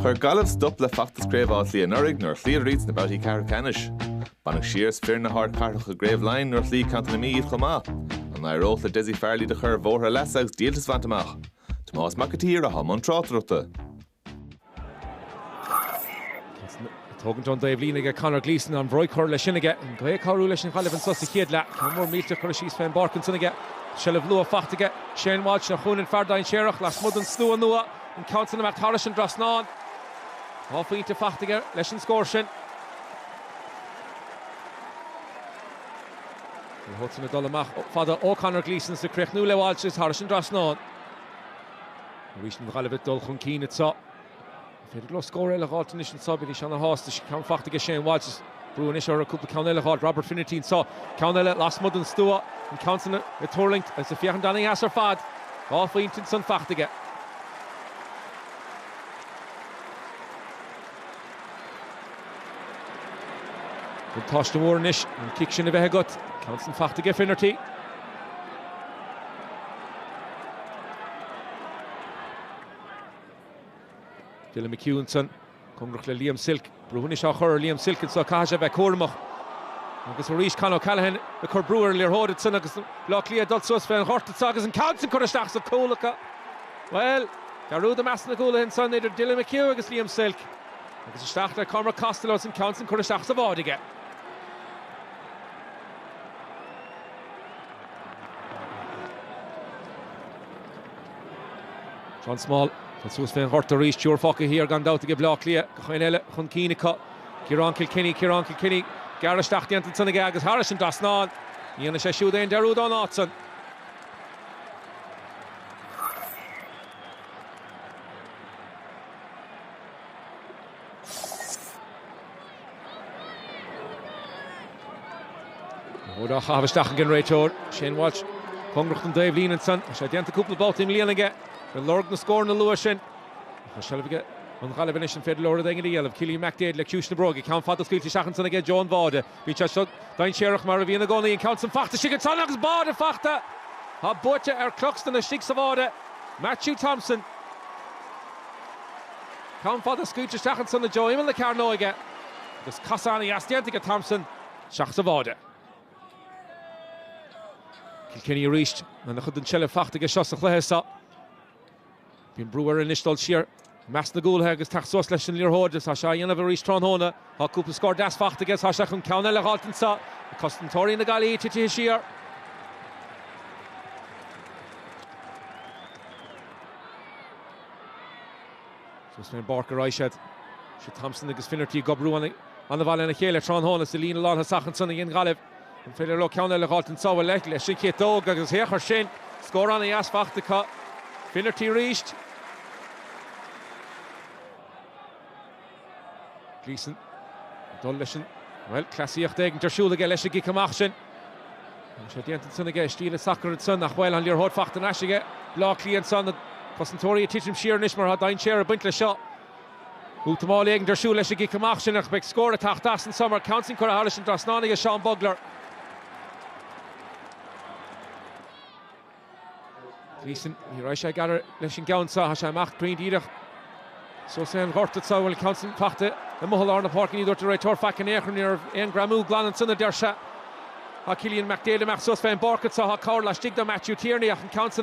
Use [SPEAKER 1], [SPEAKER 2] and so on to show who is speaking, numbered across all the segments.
[SPEAKER 1] Chuir Gaillimh stop le feachtas Craobh Átha Cliath anuraidh nuair a chloíodar iad sna babhtaí ceathrú ceannais. Baineadh siar as fir na hardchathrach i gCraobh Laighean nuair a chloígh Contae na Mí iad chomh maith. An n-éireodh le Dessie Farrell iad a chur ar bhóthar a leasa agus díoltas a bhaint amach? Tomás Mac a tSaoir, atá i mbun tráchtaireachta. Tógaint ón dtaobhlíne aige Conor Gleeson, an bhróig curtha leis sin aige, an gaoth ag cabhrú leis an Ghaillimh anso sa chéad leath, ceann mór millte curtha síos fén bpáirc ansan aige, seilbh luath faighte aige, Shane Walsh ina chúinne, an fear dainséarach, lasmuigh den stua nua, an ceann san imithe thairis an trasnán. Dhá phointe faighte aige leis an scór sin. Ní thógtar na dul amach fada ó Conor Gleeson is ag críochnú le Walsh is thairis an trasnán. Arís an Ghaillimh ag dul chun cinn anseo. An féidir leo scór eile a dh'fháilt anois anseo? Bheidís ana-shásta. Ceann faighte aige Shane Walsh. Is brú anois orthu cúpla ceann eile a dh'fháilt. Robert Finnerty anseo. Ceann eile lasmuigh den stua. An ceann san ag tuirlingt agus ag féachaint ana-dheas ar fad. Dhá phointe ansan faighte aige. Buntáiste mhór anois an cic sin a bheith agat. Ceann san fachta aige Finnerty. Dylan McHugh ansan, cóngarach le Liam Silke. Brú anois á chur ar Liam Silke anso, caithfidh sé a bheith cúramach. Agus arís Con O'Callaghan ag cur brú ar an liathróid ansan agus Bleá Cliath ag dul suas fén ghort anso agus an ceann san curtha isteach sa chúl acu. Bhuel, dearúd i measc na gcúlaithe ansan idir Dylan McHugh agus Liam Silke. Agus isteach le Cormac Costello is an ceann san curtha isteach sa bháide aige. John Small, tá suas fén ghort arís, triúr fágtha thiar gan dabht aige Bleá Cliath, gach éinne eile chun cinn acu. Ciarán Kilkenny, Ciarán Kilkenny, gearradh isteach déanta ansan aige agus thairis an dtrasnán, ní dhéanfaidh sé siúd aon dearúd ón áit san. Óid á caitheamh isteach ag an réiteoir, Shane Walsh. Cóngarach don dtaobhlíne ansan, tá sé déanta cúpla babhta i mbliana aige. Bhí lorg na scóranna luath sin. Tá seilbh ag an Ghaillimh anois, an féidir leo rud éigin a dhéanamh? Cillian McDaid le ciumhais na bróige, ceann fada scaoilte isteach ansan i dtreo an bháide. Bíonn sé seo dainséarach, mar a bhíonn i gcónaí, an ceann san fachta istigh ansan agus báide fachta, tá buaite ar Cluxton istigh sa bháide. Mathew Thompson. Ceann fada scaoilte isteach ansan i dtreo imeall na cearnóige agus casadh ana-dheas déanta aige Thompson isteach sa bháide. Kilkenny arís lena chuid den tseilbh fachta aige seo sa chluiche so. Bíonn brú air anois dul siar i measc na gcúlaithe agus teacht suas leis an liathróid. Is é á dhéanamh arís tráthnóna. Tá cúpla scór deas faighte aige. Tá sé chun ceann eile a dh'fháilt anseo. Cosantóirí na Gaillimhe titithe siar. Suas fén bpáirc a raghaidh siad. Is Thompson agus Finnerty ag oibriú an-mhaith lena chéile tráthnóna sa líne lántosach ansan i nGaillimh. An féidir leo ceann eile a dh'fháilt anso leis an gciotóg agus féach air sin? Scór an-dheas faighte acu. Finnerty arís. Gleeson ag dul leis an, bhuel, cleasaíocht éigint ar siúl aige leis an gcic amach sin. Tá sé déanta ansan aige, i stíl sacair ansan ach an bhfuil an liathróid faighte thar n-ais aige Bleá Cliath ansan, na cosantóirí ag titim siar anois mar tá dainséar ag baint leis seo. Útamáil éigint ar siúl leis an gcic amach sin ach beidh scór ag teacht as so mar an ceann so curtha thairis an trasnán aige Seán Bugler. Gleeson, ní raibh sé ag athair leis an gceann seo, tá sé amach glan díreach suas lár an ghoirt sa bhaile. Ceann so faighte amuigh i lár na páirce, ní dúirt an réiteoir faic in aon chor ann, ní raibh aon greamú glan ansan, a deir sé. Tá Cillian McDaid amach suas fé an bpáirc anso, tá cabhair laistigh do Matthew Tierney ach an ceann so,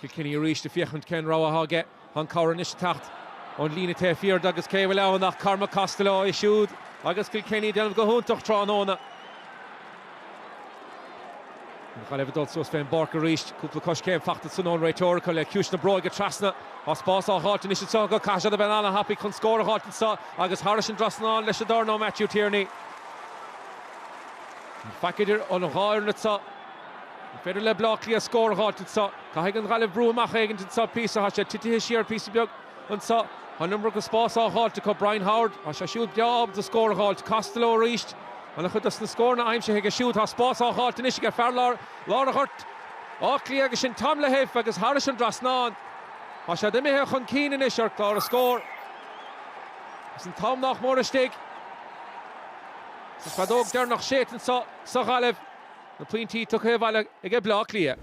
[SPEAKER 1] Kilkenny arís ag féachaint cén rogha atá aige. Tá an cabhair anois ag teacht ón líne taobh thiar de agus cé a bhfuil ann ach Cormac Costello, é siúd agus Kilkenny ag déanamh go hiontach tráthnóna. An Ghaillimh ag dul suas fén bpáirc arís, cúpla coiscéim faighte ansan ón réiteoir acu le ciumhais na bróige trasna. Tá spás á dh'fháilt anois anseo acu, caithfidh siad a bheith an-an-thapaidh chun scór a dh'fháilt anseo agus thairis an drasnán leis an dorn ó Matthew Tierney. Gan faic idir an dhá fhoireann anseo. An féidir le Bleá Cliath scór a dh'fháilt anso. Caithfidh an Ghaillimh brú amach éigint anso píosa. Thá sé titithe siar píosa beag anso. Thá an iomarca spás á dh'fháilt acu. Brian Howard, thá sé siúd breá ábalta scór a dh'fháilt. Costello arís, an-chuid dos na scóranna aimsithe aige siúd. Thá spás á dh'fháilt anois aige fear lár ghoirt Átha Cliath agus sin Tom Lahiff agus thairis an drasnán. Thá siad imithe chun cinn anois ar chlár na scór. Is an t-am nách mór istigh. Is an feadóg deireanach séidte anso sa Ghaillimh. Na pointí tugtha abhaile aige Bleá Cliath.